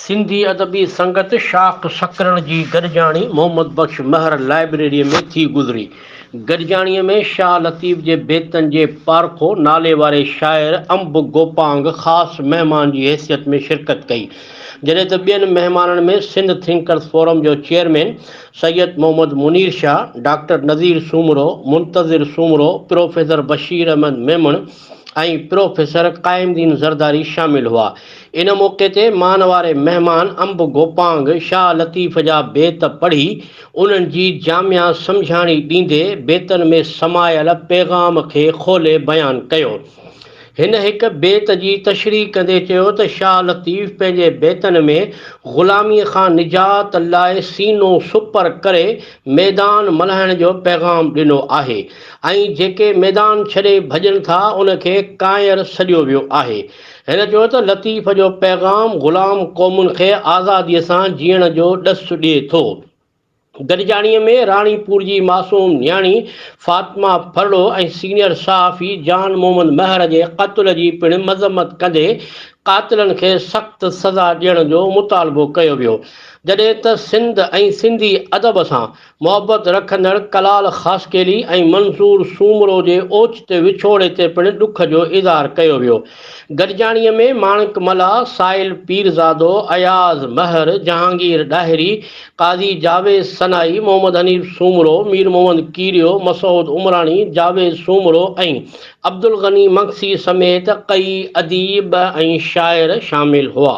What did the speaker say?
سنڌي ادبي سنگت شاخ سڪرڙ جي گڏجاڻي محمد بخش مهر لائبريري ۾ ٿي گذري. گڏجاڻي ۾ شاهه لطيف جي بيتن جي پارکو ناليواري شاعر انب گوپانگ خاص مهمان جي حيثيت ۾ شرڪت ڪئي جڏهن ته ٻين مهمانن ۾ سنڌ ٿنڪرز فورم جو chairman Syed Muhammad Munir Shah, doctor Nazir Soomro, Muntazir Soomro, professor Bashir Ahmed Memon ۽ professor Qaim Din Zardari شامل هئا. ان موقعي تي مان واري مهمان انب گوپانگ شاهه لطيف جا بيت پڙهي انهن جي جامع سمجهاڻي ڏيندي بيتن ۾ سمايل پيغام کي کولي بيان ڪيو. هن هڪ بيت جي تشريح ڪندي چيو ته شاهه لطيف پنهنجي بيتن ۾ غلاميء کان نجات لاء سينو سپر ڪري ميدان ملهائڻ جو پيغام ڏنو آهي ۽ جيڪي ميدان ڇڏي ڀڄن ٿا ان کي ڪانئر سڏيو ويو آهي. هن چيو ته لطيف جو پيغام غلام قومن کي آزاديء سان جيئڻ جو ڏس ڏئي ٿو. گڏجاڻيء ۾ راڻي پور جي معصوم نياڻي فاطمه ڦرڙو ۽ سينيئر صحافي جان محمد مهر جي قتل جي پڻ مذمت ڪندي قاتلن کي سخت سزا ڏيڻ جو مطالبو ڪيو ويو جڏهن ته سنڌ ۽ سنڌي ادب سان محبت رکندڙ ڪلال خاصخيلي ۽ منظور سومرو جي اوچتي وڇوڙي تي پڻ ڏک جو اظهار ڪيو ويو. گڏجاڻيء ۾ ماڻڪ ملاح، سائل پيرزادو، اياز مهر، جهانگير ڏاهري، قاضي جاويد سنائي، محمد حنيف سومرو، مير محمد ڪيريو، مسعود عمراڻي، جاويد سومرو ۽ عبدالغني مگسي سميت ڪيئي اديب ۽ شاعر شامل هئا.